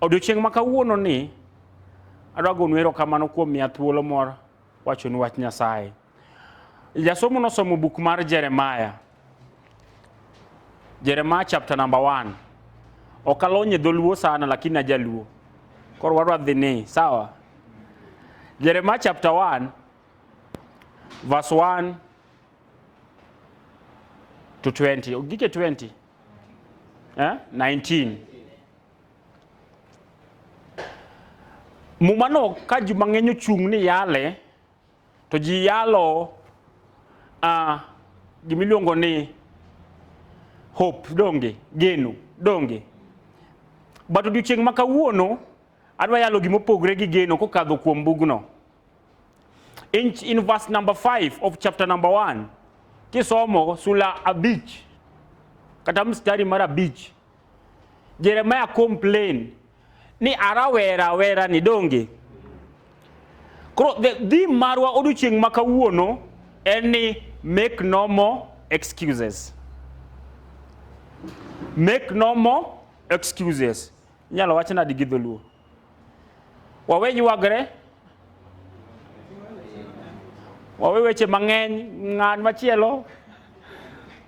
Odiochieng' ma kawuono ni adwa gonu erokamano kuom miya thuolo mor wachonu wach Nyasaye. Jasomo nosomo buk mar Jeremiah. Jeremiah chapter number 1. Ok alonye dholuo sana lakini ajaluo. Koro wadwa dhi ni sawa. Jeremiah chapter 1 verse 1 to 20. Gike 20. eh? 19 mumano ka ji mang'eny ochung' ni yale to ji yalo uh, gimiluongo ni hope donge geno donge but odiochieng' ma kawuono adwa yalo gima opogre gi geno kokadho kuom bugno In, in verse number 5 of chapter number 1 kisomo sula abich kata mstari mar abich Jeremiah complain ni arawera wera ni donge koro dhi marwa odiochieng' ma kawuono en ni make no more excuses make no more excuses inyalo wach nadi gi dholuo wawe ywagre wawe weche mang'eny ng'an machielo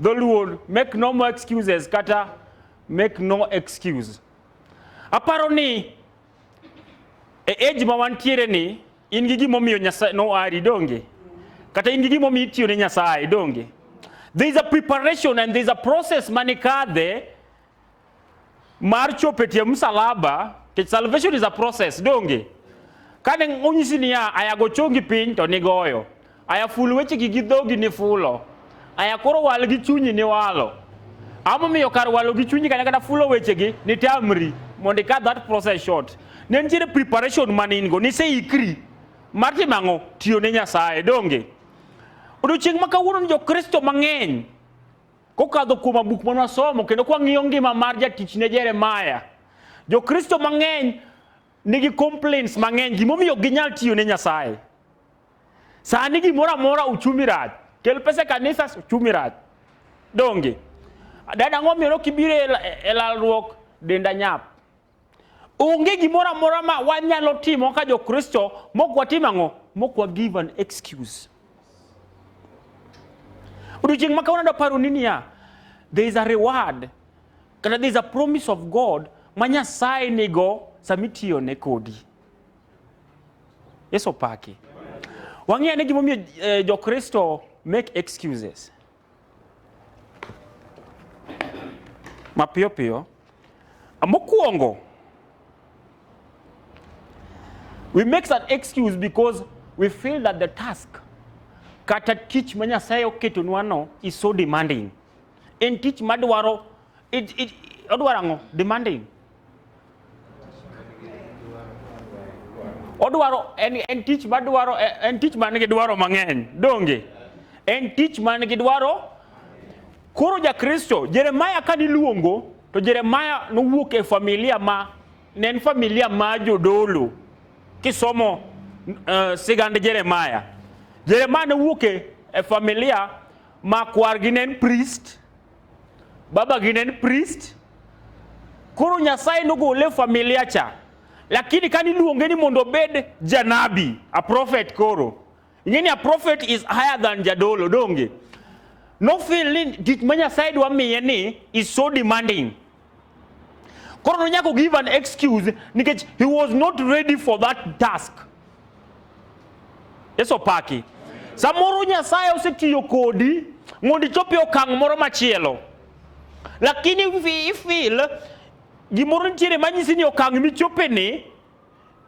dholuo make no more excuses kata make no excuse aparo ni e age ma wantiere ni in gi gimomiyo nyasaye noari donge kata in gi gimomiyo itiyo ne nyasaye donge there is a preparation and there is a process mane kadhe mar chopo e tie msalaba nikech salvation is a process donge kane onyisi niya aya go chongi piny to nigoyo aya ful wechegi gi dhogi ni fulo aya koro wal gi chunyi ni walo amomiyo kar walo gi chunyi kanya kata fulo wechegi ni tamri mondo ika that process short ne nitiere preparation mane in go niseikri mar timo ang'o tiyo ne nyasaye donge odiochieng' ma kawuono ni jokristo mang'eny Kokadho kuom abuk ma nwasomo kendo kwang'iyo ngima mar jatichne Jeremaya, Jokristo mang'eny nigi complaints mang'eny gimomiyo ginyal tiyo ne Nyasaye. Sani gimoro amora uchumi rach, kel pesa e kanisa uchumi rach. Donge? Dada ang'o miyo nokibiro e lalruok denda nyap? Onge gimoro amora ma wanyalo timo ka Jokristo mok watim ang'o? Mok wa give an excuse. Odiochieng' ma kawuono adaparo ni niya, there is a reward kata there is a promise of God ma Nyasaye nigo sama itiyo ne kodi. Yesu opaki. Wang'eyo ni gimomiyo eh, Jokristo make excuses. Mapiyo piyo. Mokuongo, we make an excuse because we feel that the task kata tich ma Nyasaye oketonwa no is so demanding. En tich madwaro, it, it, odwaro ang'o? Demanding. odwaro en, en tich madwaro en tich man gi dwaro mang'eny donge en tich man gi dwaro koro jakristo jeremaya ka niluongo to jeremaya nowuok e familia ma ne en familia ma jodolo kisomo uh, sigand jeremaya jeremaya nowuok e familia ma kwargi ne en priest Baba gi ne en priest, koro Nyasaye nogole e familia cha, lakini kani luonge ni mondo obed janabi, a prophet koro. Ing'e ni a prophet is higher than jadolo, donge? Nofeel ni tich ma Nyasaye dwa miye ni is so demanding Koro nonyako give an excuse nikech he was not ready for that task. Yesu paki. Samoro Nyasaye osetiyo kodi mondo ichop e okang' moro machielo. Lakini ifil gimoro nitiere manyisi ni okang' michopeni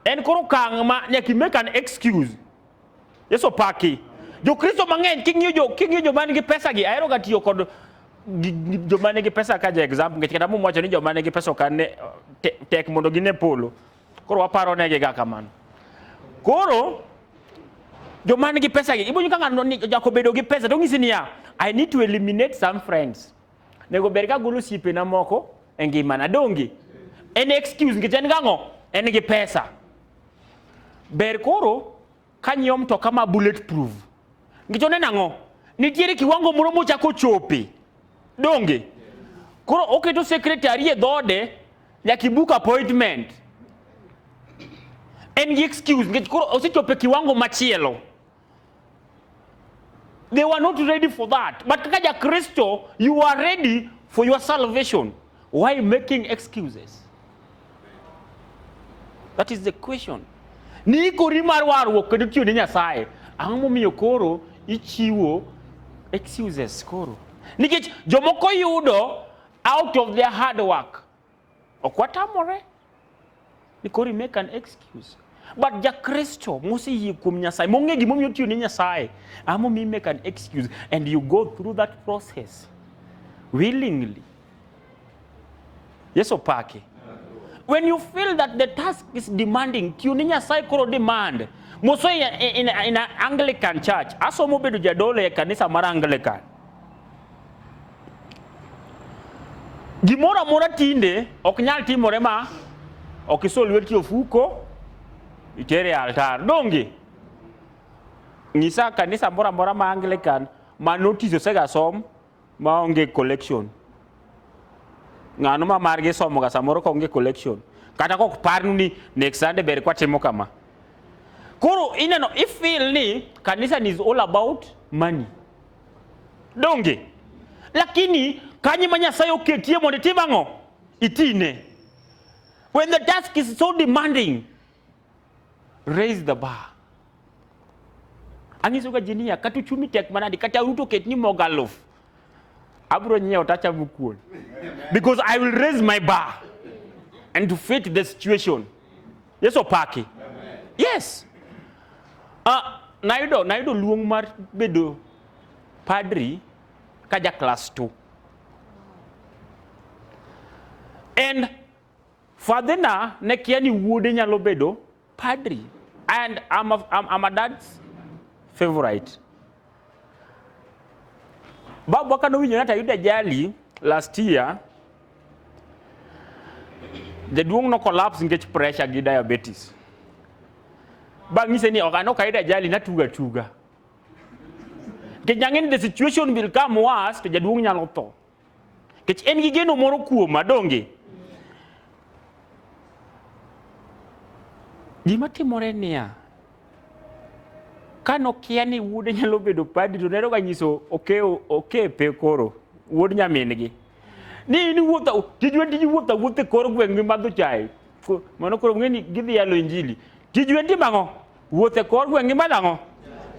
en koro okang' ma nyaka make an excuse. Yesu paki. Jokristo mang'eny king'iyo jo king'iyo joma nigi pesa gi ahero ga tiyo kod joma nigi pesa ka ja example nikech kata mum wacho ni joma nigi pesa okan ne tek mondo gine polo. Koro waparo negi ga kamano. Koro joma nigi pesa gi ibonyo ka ng'ano ni jako bedo gi pesa to ng'isi niya I need to eliminate some friends. Nego ber ka golo siepena moko e ngimana donge? En excuse nikech en gang'o? En gi pesa. Ber koro ka nyiewo mtoka ma bullet proof. Nikech oneno ang'o? Nitiere kiwango moro mochako chope. Donge? Koro oketo secretary e dhode nyaka ibuk appointment. En gi excuse nikech koro osechope kiwango machielo. They were not ready for that. But kaja Kristo, you are ready for your salvation. Why making excuses? That is the question. Ni kori mar warruok kendo tiyo ne Nyasaye. Ang'o momiyo koro ichiwo excuses koro? Nikech jomoko yudo out of their hard work. Ok watamore ni kori make an excuse. But Jakristo moseyie kuom Nyasaye, mong'e gimomiyo otiyo ne Nyasaye, ama omi make an excuse and you go through that process willingly. Yesu pake. When you feel that the task is demanding, tiyo ne Nyasaye koro demand. Mosoya in, in, in an Anglican church, asomo bedo jadolo e kanisa mar Anglican. Gimoro amora tinde ok nyal timore ma ok iso lweti ofuko itere e altar. Donge nyisa kanisa moro amora ma Anglican ma notice osegasom ma onge collection. Ng'ano ma margi somoga samoro ka onge collection. Kata kok parnu ni next Sunday ber kwatimo kama. Koro ineno ifeel ni kanisa is all about money. donge lakini kanyo ma nyasaye oketie mondo itim ang'o itine when the task is so demanding raise the bar ang'isoga ji niya kata uchumi tek manadi kata ruto oket ni mogo aluf abro nyiewo tachamo kuon because i will raise my bar and to fit the situation yesu opaki yes Uh, nayudo nayudo luong mar bedo padri ka ja class 2 and fadhina ne kia ni wuode nyalo bedo padri and I'm a, I'm, I'm a dad's favorite Babu waka nowinjo ni ayudo ajali last year. Jaduong' no collapse nikech pressure gi diabetes. Bang' ng'ise ni ok anok ayudo ajali natuga tuga. Nikech nang'e ni the situation will come worse to jaduong' nyalo tho. Nikech en gi geno moro kuoma, donge? Gima timore niya, ka nokia ni wuode nyalo bedo padri to nero ga nyiso okeo okepe koro wuod nyamin-gi ni in wuotha tijwe tij wuotha wuothe kor gweng' mimadho chae mano koro ng'e ni gidhi yalo injili tijwe ndi mang'o Wuoth e kor gweng' gima nang'o?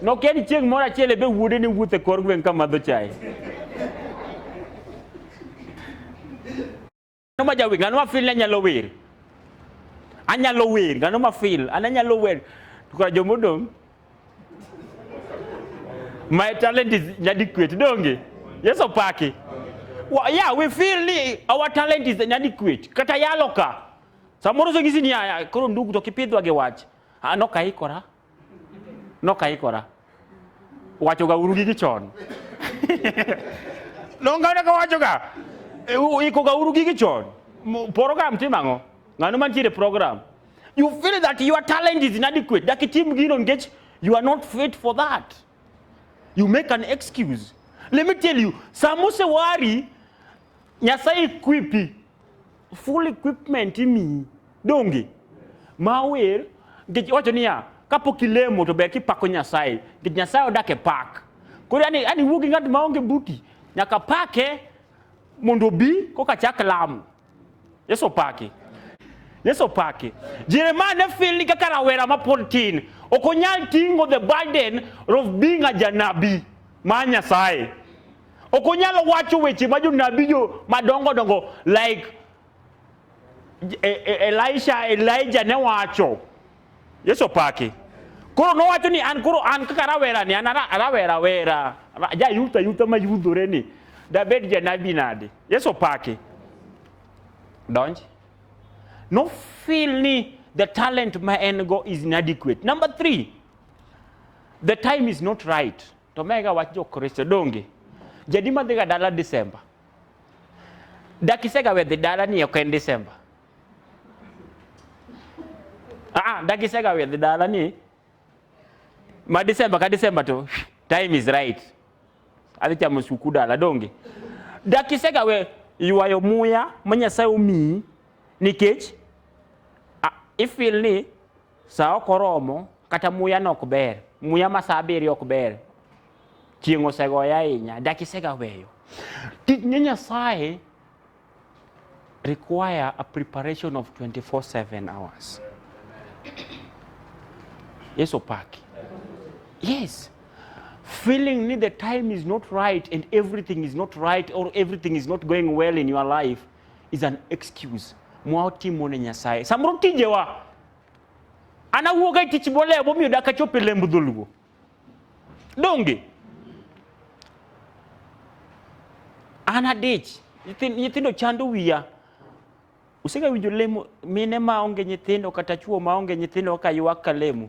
Nokia ni chieng' moro achiel ebe wuode ni wuoth e kor gweng' ka madho chae. Ng'ano ma jawer? Ng'ano ma feel ni anyalo wer? Anyalo wer. Ng'ano ma feel? An anyalo wer. To kara joma odong' my talent is inadequate donge yeso paki well, yeah we feel ni our talent is inadequate kata yalo ka samoro songisi ni aya koro ndugu to kipidhwa gi wach Ah, no kaikora no kaikora wachoga uru gi gichon nongane ka wachoga eh, ikoga uru gi gichon program tim ang'o ng'ano mantiere program you feel that your talent is inadequate dak itim gino nikech you are not fit for that you make an excuse let me tell you samose wari nyasaye equipi full equipment imiyi donge ma wer nikech wacho niya kapok ilemo to ber kipako nyasaye nikech nyasaye odak e pak koro yani yani wuo gi ng'at maonge buti nyaka pake mondo obi koka chak lamo yesu opaki yesu opaki jeremia ne fil ni kaka rawera mapod tin ok onyal ting'o the burden of being a janabi mar nyasaye Ok onyal wacho weche ma jonabi jo madongo dongo like e, e, Elisha, Elijah ne wacho. Yesu opaki. Koro nowacho ni an koro an kaka rawera ni an rawera wera. Ja yuta yuta ma yudhore ni. Dabed janabi nade. Yesu opaki. Donji. No feel ni the talent ma en go is inadequate. Number three, the time is not right. To mega wach jokristo donge jadi madhiga dala Disemba dakisega wedhi dala ni ok en Disemba ah dakisega wedhi dala ni ma Disemba ka Disemba to time is right adhi chamo suku dala donge dakisega we ywayo muya ma Nyasaye omiyi nikech ah, ifil ni Sa ok oromo, kata muya no ok ber, muya ma sa abiriyo ok ber, chieng' osegoya ahinya, dak isegaweyo. Tich ne Nyasaye require a preparation of 24-7 hours. Yesu opaki. Yes. Feeling ni the time is not right and everything is not right or everything is not going well in your life is an excuse mwa otimo ne Nyasaye. Samoro tijewa an awuoga e tich bolewo momiyo dak achop e lemb dholuo. Donge? An adich, nyithin- nyithindo chando wiya. Usega winjo lemo mine ma onge nyithindo kata chwo ma onge nyithindo kaka ywak ka lemo?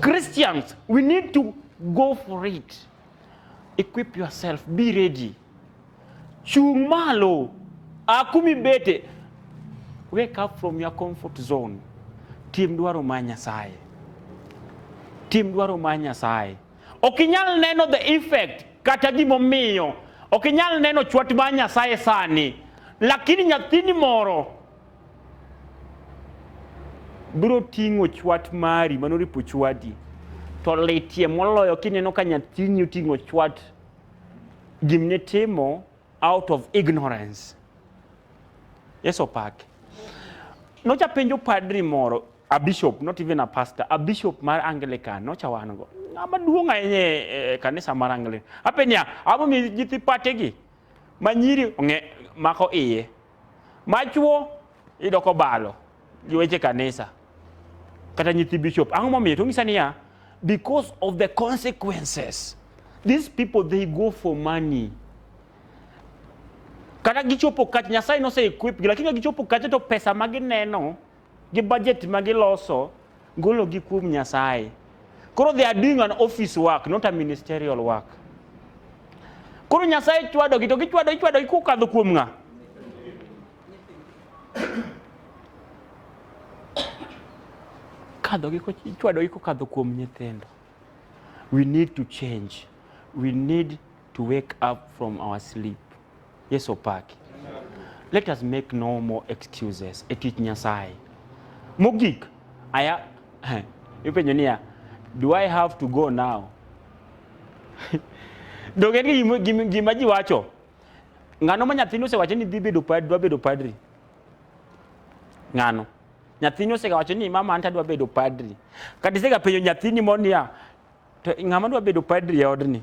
Christians, we need to go for it. Equip yourself, be ready. Chung malo, akumi bete. Wake up from your comfort zone. Tim dwaro ma Nyasaye. Tim dwaro ma Nyasaye. Ok inyal neno the effect kata gimomiyo. Ok inyal neno chwat ma Nyasaye sani. Lakini nyathini moro biro ting'o chwat mari mano ripo chwadi to litie moloyo kineno ka nyathini oting'o chwat gimne timo out of ignorance yeso pak nocha penjo padri moro a bishop not even a pastor a bishop mar anglican nocha wan go ng'ama duong' ahinya e kanisa mar anglican ape niya amo mi nyithi pategi ma nyiri ong'e mako iye machuo iyudo kobalo gi weche kanisa kata nyithi bishop ang'o momiyo to ng'isa niya because of the consequences these people they go for money kata gichopo kach nyasaye nose equip gi lakini ka gichopo kacha to pesa ma gineno gi budget ma giloso golo gi kuom Nyasaye. Koro they are doing an office work, not a ministerial work. Koro Nyasaye chwado gi to gichwado ichwado gi kokadho kuom ng'a? Kadho gi ichwado gi kokadho kuom nyithindo. We need to change. We need to wake up from our sleep. Yesu opaki. Let us make no more excuses e tich Nyasaye. Mogik, aya ipenjo niya, do I have to go now? Donge ni gima, gima ji wacho. Ng'ano ma nyathini osewacho ni dhi bedo padri, dwa bedo padri? Ng'ano? Nyathini osewacho ni mama anta dwa bedo padri. Kata isegapenjo nyathini moro niya, to ng'ama dwa bedo padri e odni?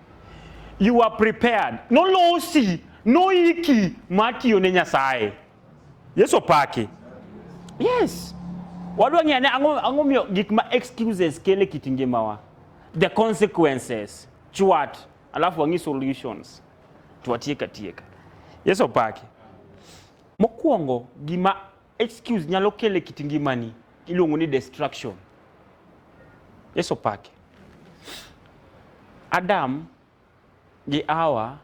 you are prepared nolosi noiki mar tiyo ne nyasaye yesu opaki yes wadwa ng'eyo ane ang'o ang'o miyo gik ma excuses kele kit ngimawa the consequences chwat alafu wang'i solutions twatiek atieka yesu opaki mokwongo gima Excuse nyalo kele kit ngimani iluongo ni destruction. Yesu pake. Adam gi Hawa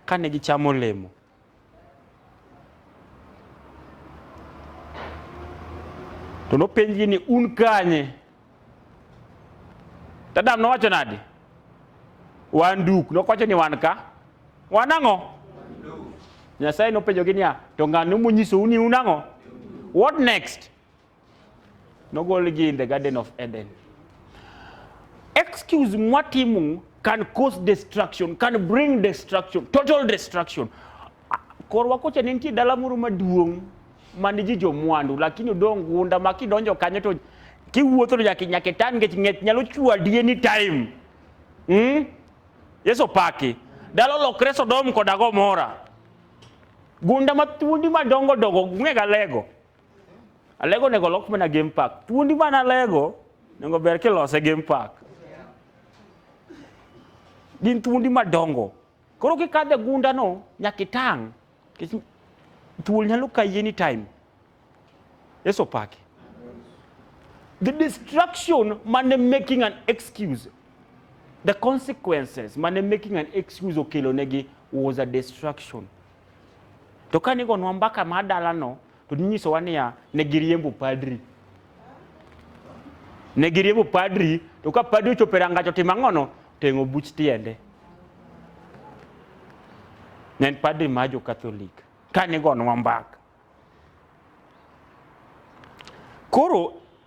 kane gichamo olemo to nopenjgi ni un kanye? To Adam nowacho nadi? Wan duk. Nokowacho ni wan ka. Wan ang'o? Nyasaye nopenjogi niya, to ng'ano monyisou ni un ang'o? What next? Nogolgi in the Garden of Eden. Excuse mwatimu can cause destruction, can bring destruction, total destruction. Korwa kocha ne nitie dala moro maduong' man ji jomwandu lakini odong' gunda ma kidonjo kanyo to kiwuotho to nyaka nyaka itan nikech ng'ech nyalo chwadi any time. Mm? Yesu paki. Dala olokre Sodom koda Gomora. Gunda ma thuondi madongo dongo ng'ega lego. Alego nego lok mana game park. Thuondi mana alego nego ber kilose game park. Gin thuondi madongo. Koro kikadhe gunda no nyaka itang'. Thuol nyalo kayi anytime. Yesu opaki. The distraction mane making an excuse. The consequences mane making an excuse okelonegi was a distraction. To kane igonwa mbaka mar dalano, To ninyisowa niya, ne giriembo padri. Ne giriembo padri, to ka padri ochopo e rangach otimo ang'ono, teng'o buch tiende. Ne en padri ma jo Katholik, ka nigonwa mbaka. Koro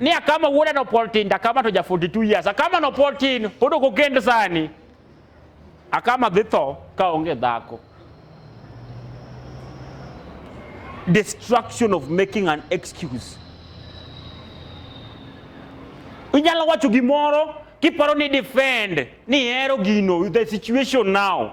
ni akama wona no poltin da kama to ja 42 years akama no poltin podo ko kend sani akama dhi tho ka onge dhako destruction of making an excuse inyalo wacho gimoro kiparo ni defend ni hero gino the situation now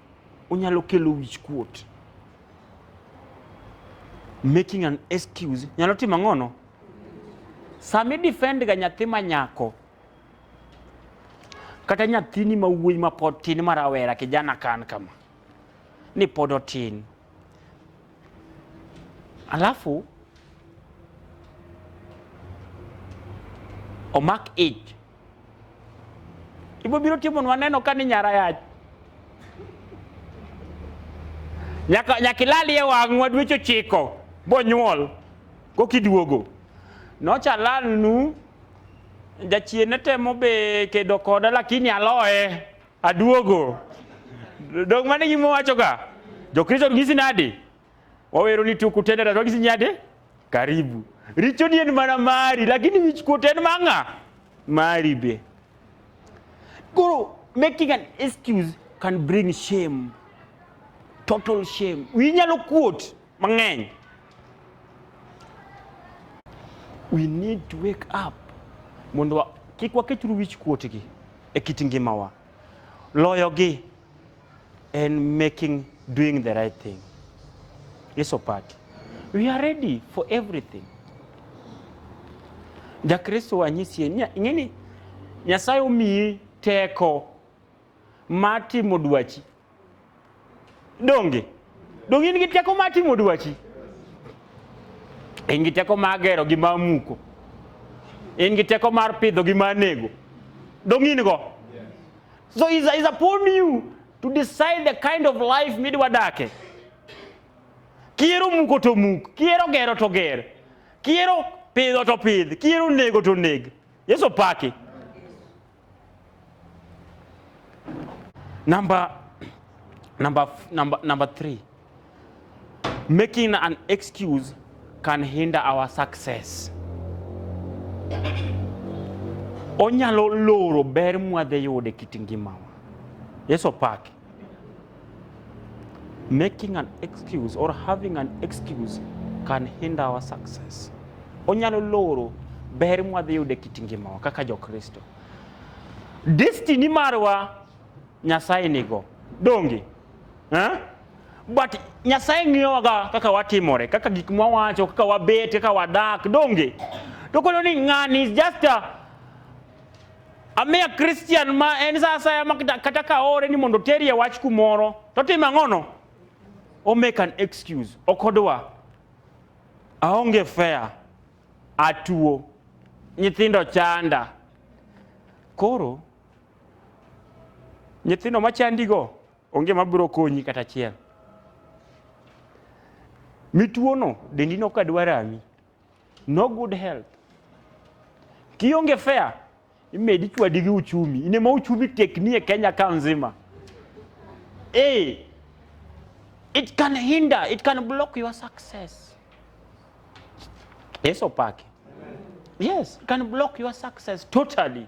onyalo kelo wichkuot. Making an excuse nyalo timo ang'ono? Sami defend ga nyathi ma nyako kata nyathini ma wuoyi ma pod tin ma rawera kijana kan kama ni pod otin alafu omak ich Ibo biro timo nwa neno ka ni nyara yach. Nyaka nyaka ilali e wang'wa dweche ochiko bonyuol kokiduogo. Nocha lalnu jachien ne temo be kedo koda lakini aloye aduogo. Dong' mane gima wachoga. Jokristo nyisi nadi? wawero ni tuku tena tatu akisinyate karibu richo ni en mana mari lakini wichkuot en mang'a mari be koro making an excuse can bring shame total shame wiyi nyalo kuot mang'eny we need to wake up mondo wa- kik waketuru wich kuotgi e kit ngimawa loyogi and making doing the right thing iso part we are ready for everything jakristo wanyisie ing'eni nyasaye omiyi teko mar timo dwachi donge donge in gi teko mar timo dwachi in gi teko mar gero gi mar muko in gi teko mar pidho gi mar nego donge in go So it's, it's upon you to decide the kind of life midwa dake. Kiero muko to muk, kiero gero to ger, kiero pidho to pidh, kiero nego to neg. Yesu paki. Number, number, number, number three. Making an excuse can hinder our success. Onyalo loro ber mwadhi yude kit ngimawa. Yesu opaki. Making an excuse or having an excuse can hinder our success. Onyalo loro ber mwadhi yude kit ngimawa kaka jo Kristo. Destiny marwa Nyasaye nigo. Donge? eh? but Nyasaye ng'iyowaga kaka watimore, kaka gik mwawacho, kaka wabet, kaka wadak, donge? To koro ni ng'ani is just a, a mere Christian ma en sa asaya ma kata- kata ka ore ni mondo oterie wach kumoro, to otimo ang'ono? O make an excuse, ok odwa. Aonge fair, atuo, nyithindo chanda. Koro Nyithindo machandigo onge mabiro konyi kata achiel. Mituono dendi nok adwa rami. No good health. Kionge fair, imedi chwadi gi uchumi. In ema uchumi tekni e Kenya ka nzima. Eh, it can hinder, it can block your success. Yesu opake. Yes, it can block your success totally.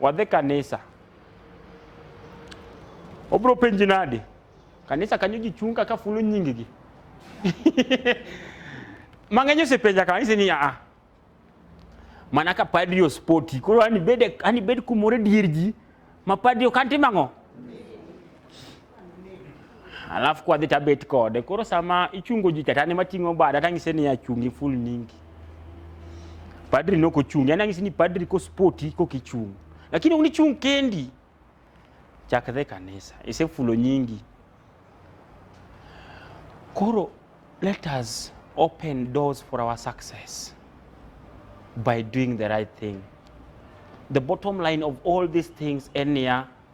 Wadhi kanisa. Obro penji nadi? Kanisa kanyo ji chung' kaka fulo nyinggi. Mang'eny osepenja kanisa ni aa. Mana ka padri ospoti. Koro ani bed ani bed kumoro e dier ji ma padri ok antimo ang'o? alafu kwa the tabet code koro sama ichungo ji kata ne mating'o bada tang'ise ni achungi full nyingi padri noko chung yani ang'ise ni padri ko spoti ko kichung lakini unichung kendi chak the kanisa ise fulo nyingi koro let us open doors for our success by doing the right thing the bottom line of all these things enia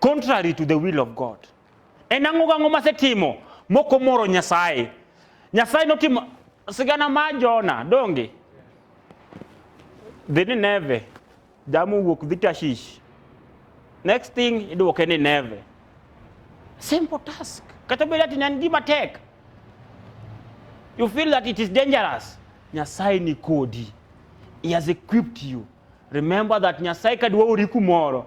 contrary to the will of God. En ang'o gang'o masetimo mok omoro Nyasaye? Nyasaye notimo sigana ma Jona donge dhi Nineve jamu wuok dhi Tashish next thing idwoke Nineve simple task kata bed ati ne en gima tek you feel that it is dangerous Nyasaye ni kodi he has equipped you remember that Nyasaye kadwa ori kumoro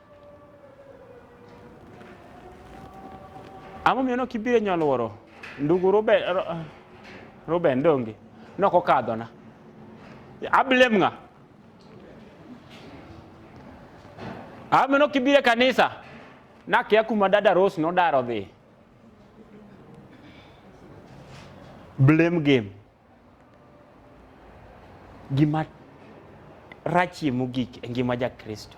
Ang'o miyo nok ibiro e nyoluoro? Ndugu Ruben, Ruben donge? Nok okadhona. Ablem ng'a? Ang'o miyo nok ibiro e kanisa? Nakia kuma dada Rose nodaro dhi. Blame game. Gima rachie mogik e ngima ja Kristo.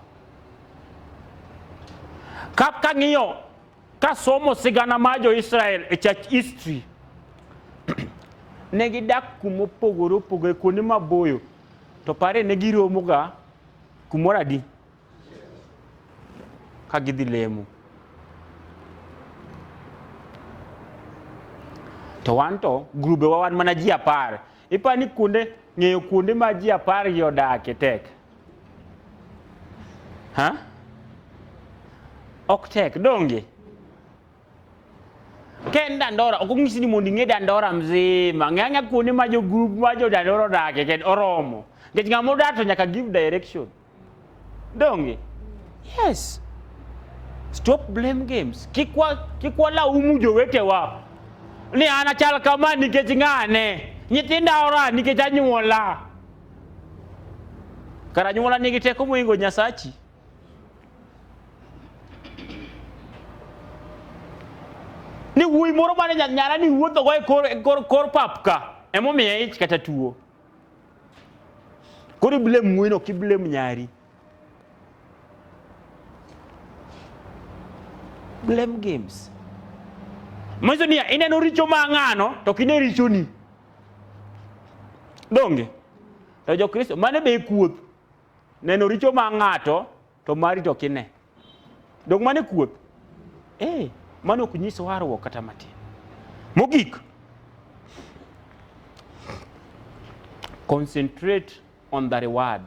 Ka kang'iyo ka somo sigana mar jo Israel e church history ne gidak kuma opogore opogore kuonde maboyo to pare ne giromoga kumoro adi ka gidhi lemo. To wan to grubewa wan mana ji apar. Ipa ni kuonde ng'eyo kuonde ma ji apar gi odake tek. Ha? Ok tek donge? Ka en Dandora, ok onyisi ni mondo ing'e Dandora mzima. Ng'e ang'e kuonde ma jo grup ma jo Dandora odake kendo oromo. Nikech ng'ama odak to nyaka give direction. Donge? Yes. Stop blame games. Kikwa kikwa la umu jowetewa. Ni anachal kama nikech ng'ane. Nyithinda ora nikech anyuola. Kara anyuola nigi teko moingo Nyasachi. ni wuoyi moro mane nyara ni wuothogo e kor, kor, kor pap ka emomiye ich kata tuo Koro iblem ng'wen ok iblem nyari. Blame games. Manyiso niya ineno richo ma ng'ano to ok ine richoni. Donge? To Jokristo mane be kuoth neno richo ma ng'ato to mari to kine dong mane kuoth eh mano ok nyis warruok kata matin mogik concentrate on the reward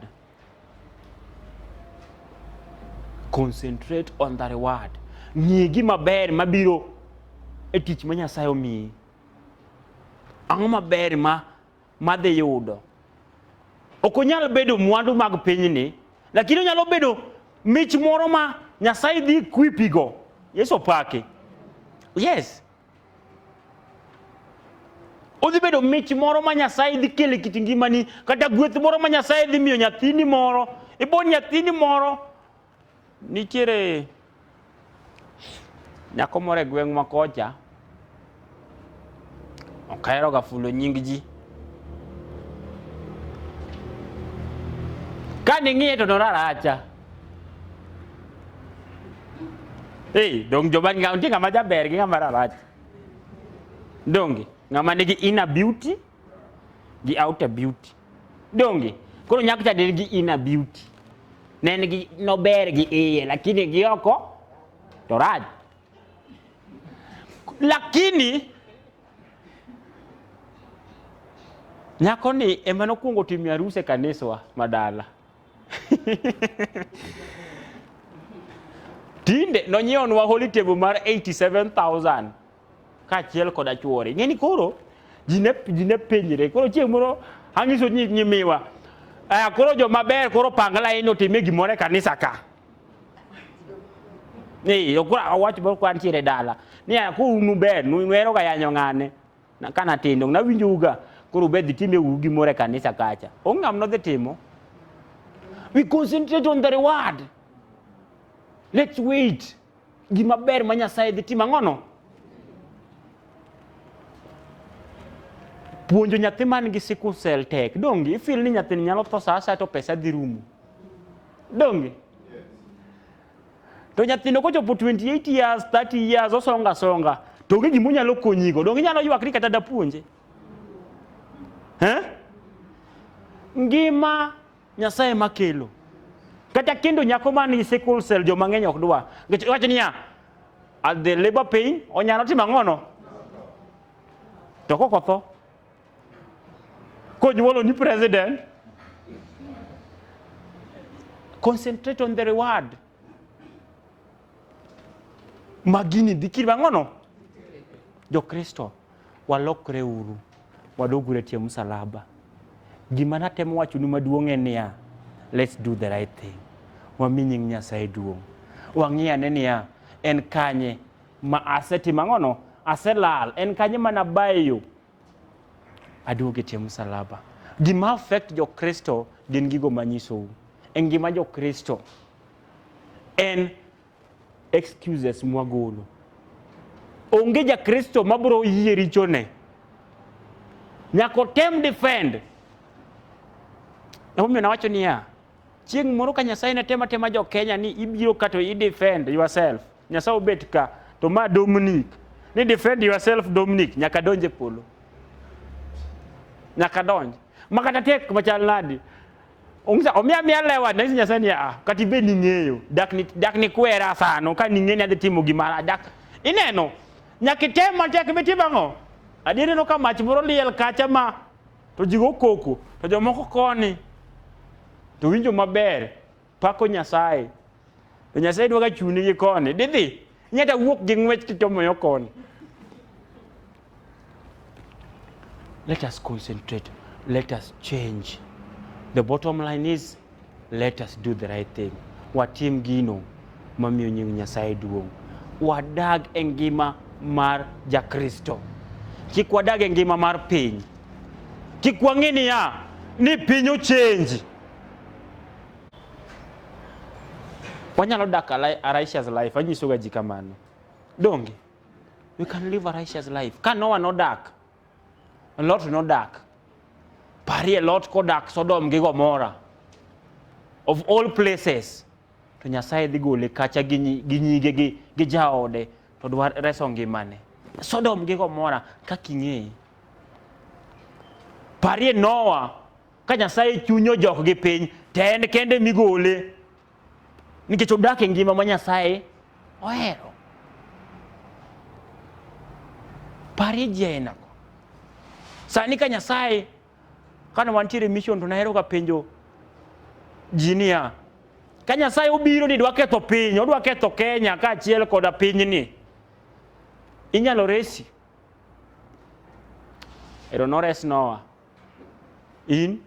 concentrate on the reward ng'e gima ber mabiro e tich ma nyasaye omiyi ang'o maber ma madhi yudo. Ok onyal bedo mwandu mag pinyni, lakini onyalo bedo mich moro ma Nyasaye dhi kwipigo. Yesu opaki. Yes. Odhi bedo mich moro ma Nyasaye dhi kele kit ngimani, kata gweth moro ma Nyasaye dhi miyo nyathini moro. Ibo nyathini moro Nitiere nyako moro e gweng' ma kocha ok aheroga fulo nying ji. Ka ning'iye to noraracha. Ei, dong joma nitie ng'ama jaber gi ng'ama rarach. Donge ng'ama nigi inner beauty gi outer beauty donge koro nyako cha del gi inner beauty ne en gi nober gi iye lakini gi oko to raj lakini nyako ni ema nokwongo timo arus e kaniswa madala tinde nonyiewonwa holy table mar 87000 kaachiel koda chwore. Ing'e ni koro ji ne ji ne penjre koro chieng' moro ang'iso nyi- nyimiwa aya koro joma ber koro pang laini otime gimoro e kanisa ka Ee, okura awacho moro kwa ntiere dala ni aya koro un uber nu- nuhero ga yanyo ng'ane Na- ka natindo nawinjou ga koro ubed dhi time u gimoro e kanisa kacha onge ng'ama nodhi timo we concentrate on the reward let's wait gima ber ma Nyasaye dhi timo ang'ono. Puonjo nyathi man gi sickle cell tek. Donge ifil ni nyathini nyalo tho sa asaya to pesa dhi rumo. Donge? To nyathino kochopo 28 years, 30 years osonga songa. To onge gima onyalo konyigo. Donge inyalo ywak ni kata dapuonje. Eh? Ngima Nyasaye ema kelo. Kata kendo nyako man gi sickle cell jo mang'eny ok dwa. Nikech wacho niya, at the labor pain onyalo timo ang'ono. To kok otho. Konyuolo ni president. Concentrate on the reward. magini dhi kiri mang'ono jokristo walokre uru wadogure e tie msalaba gima natemo wachonu maduong' en niya let's do the right thing wami nying nyasaye duong' wang'i ane niya en kanye ma asetimo ang'ono aselal en kanye ma nabayo Aduogo e tie msalaba. Gima affect jo Kristo gin gigo manyisou. E ngima jo Kristo en excuses mwagolo. Onge ja Kristo mabro yie richone. Nyako tem defend. Emomiyo nawacho niya, Chieng' moro ka Nyasaye ne tema tema jo Kenya ni ibiro ka to i defend yourself. Nyasaye obet ka to ma Dominic ni defend yourself Dominic nyaka donje polo. Nyaka donj. Makata tek machal nadi. Ongisa omia mia lewa na Nyasaye ni ah kati be ni ng'eyo dak ni dak ni kwera sano ka ni ng'eni adhi timo gimara dak ineno nyaka item matek be timo ang'o adier no ka mach moro liel kacha ma to ji go koko to jomoko koni to winjo maber pako nyasaye to nyasaye dwa ga chuni gi koni didhi nyata wuok gi ng'wech kichomo yo koni let us concentrate let us change the bottom line is Let us do the right thing. Watim gino mamiyo nying Nyasaye duong'. Wadag e ngima mar Jakristo. Kik wadag e ngima mar piny. Kik wang'i niya ni piny ochenji. Wanyalo dak a li- a righteous life, anyisoga ji kamano. Donge? We can live a righteous life. Ka Noah nodak, Lot nodak. Parie Lot kodak Sodom gi Gomora. Of all places. To Nyasaye dhi gole kacha gi nyi- gi nyige gi, gi jaode to dwa reso ngimane. Sodom gi Gomora kaka ing'eyi. Parie Noah ka Nyasaye chunyo jok gi piny to en kende migole. nikech odak e ngima ma Nyasaye ohero. Parie ji ainago. Sani ka Nyasaye kane wantiere mission to naheroga penjo ji niya, ka Nyasaye obiro ni dwa ketho piny, odwa ketho Kenya kaachiel koda pinyni, inyalo resi? Ero nores Noah. In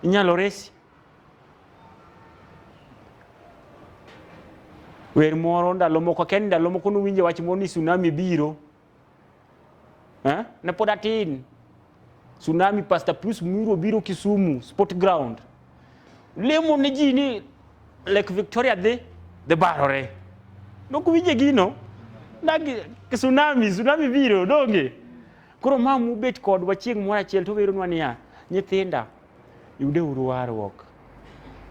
inyalo resi. Wer moro ndalo moko akia ni ndalo moko nuwinje wach moro ni tsunami biro. Eh? Ne pod atin. Tsunami Pastor Plus Muro biro Kisumu Sport Ground. Lemo ne ji ni Lake Victoria dhi dhi barore. Nokuwinje gino. Nagi tsunami, tsunami biro donge. Koro ma mubet kodwa chieng' moro achiel to weronwa niya, nyithinda, yudeuru warruok.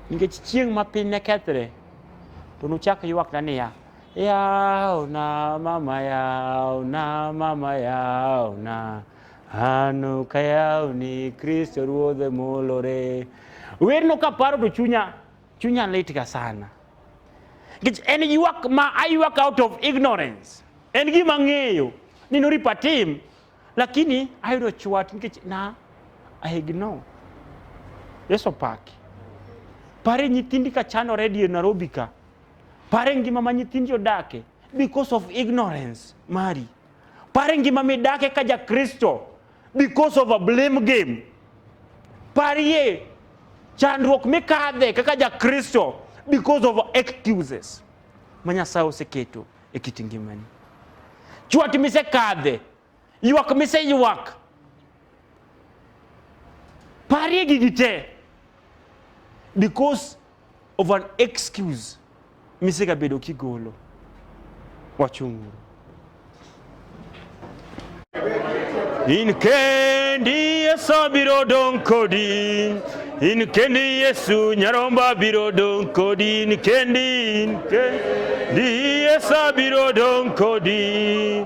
Nikech chieng' ma piny ne kethre, to nuchak ywakna niya, yawna mama yawna mama yawna ano ka yawni kristo ruodhe molore werno kaparo to chunya Chunya litga sana. Nikech en ywak ma aywak out of ignorance. En gima ng'eyo ni noripa tim lakini ayudo chwat nikech na I ignore. Yesu paki. Pare nyithindi ka chano redio Nairobi ka. Pare ngima ma nyithindi odake because of ignorance mari. Pare ngima midake ka ja Kristo because of a blame game parie chandruok mikadhe kaka jakristo because of excuses ma nyasaye oseketo e kit ngimani chwat misekadhe ywak miseywak parie gigi te because of an excuse misegabedo kigolo wachung'uru in kendi yesu abiro dong' kodi in kendi yesu nyaromba abiro dong' kodi in kendi in kendi yesu abiro dong' kodi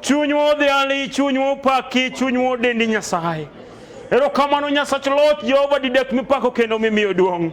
Chunywa odhiali, chunywa opaki, chunywa odendi Nyasaye. Erokamano Nyasach Loch, Jehova didek mipako kendo mimiyo duong'.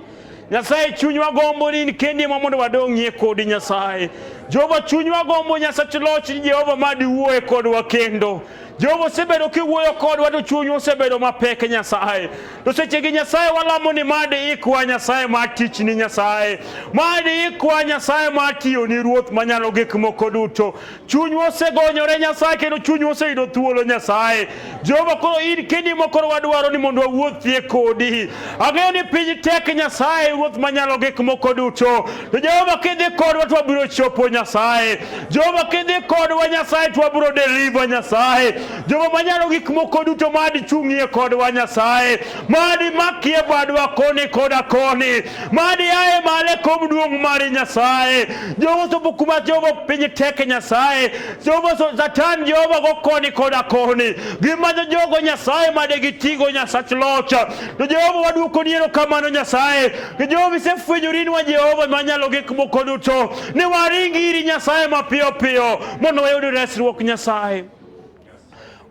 Nyasaye chunywa gombo ni kendi ma mondo wadong'ie kodi Nyasaye. Jehova chunywa gombo Nyasach Loch, Jehova ma diwuoye kodwa kendo. Jehova osebedo kiwuoyo kodwa to chunywa osebedo mapek Nyasaye. To sechegi Nyasaye walamo ni mad ikwa Nyasaye ma tichni Nyasaye. Mad ikwa Nyasaye ma tiyoni Ruoth manyalo gik moko duto. chunywa osegonyore Nyasaye kendo chunywa oseyudo thuolo Nyasaye. Jehova koro in kendi mokoro wadwaro ni mondo wawuothie kodi. Ang'eyo ni piny tek Nyasaye ruoth manyalo gik moko duto. To Jehova kidhi kodwa to wabiro chopo Nyasaye. Jehova kidhi kodwa Nyasaye to wabiro deliver Nyasaye. Jehova manyalo gik moko duto madi chung'ie kodwa Nyasaye. Madi makie badwa koni koda koni. Mad yaye male kom duong' mar Nyasaye. Jehova sopo kuma Jehova piny tek e Nyasaye. Jehova so Satan Jehova go koni koda koni. Gimanyo jogo Nyasaye made gitigo Nyasach locha. To Jehova waduoko ni erokamano Nyasaye. To Jehova isefwenyori nwa Jehova manyalo gik moko duto. Ni waring iri Nyasaye mapiyo piyo mondo wayud resruok Nyasaye.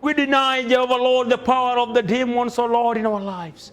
We deny, Jehovah Lord, the power of the demons, O Lord, in our lives.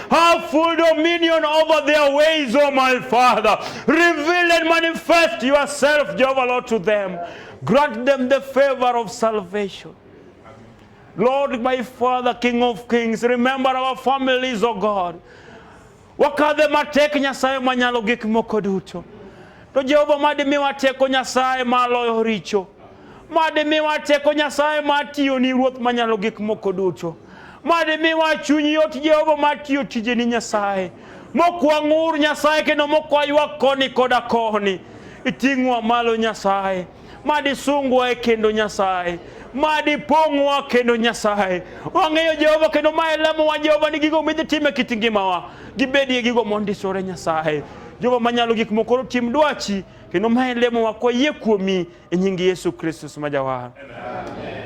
have full dominion over their ways, O oh my Father. Reveal and manifest yourself, Jehovah Lord, to them. Grant them the favor of salvation. Lord, my Father, King of Kings, remember our families, O oh God. Wakadhe matek Nyasaye manyalo gik moko duto. To Jehova mad imiwa teko Nyasaye ma loyo richo. Mad imiwa teko Nyasaye ma tiyo ni Ruoth manyalo gik moko duto. Mad imiwa chuny yot Jehova ma tiyo tije ni Nyasaye. Mokwang'ur Nyasaye kendo mokwaywa koni koda koni. Iting'wa malo Nyasaye. madisungwa e kendo Nyasaye madi pong'wa kendo Nyasaye wang'eyo Jehova kendo ma elemowa Jehova ni gigo midhi time e kit ngimawa gibedie gigo mondisore Nyasaye Jehova manyalo gik moko koro tim dwachi kendo ma elemowa kwayie kuomi e nying Yesu Kristus ma jawar Amen.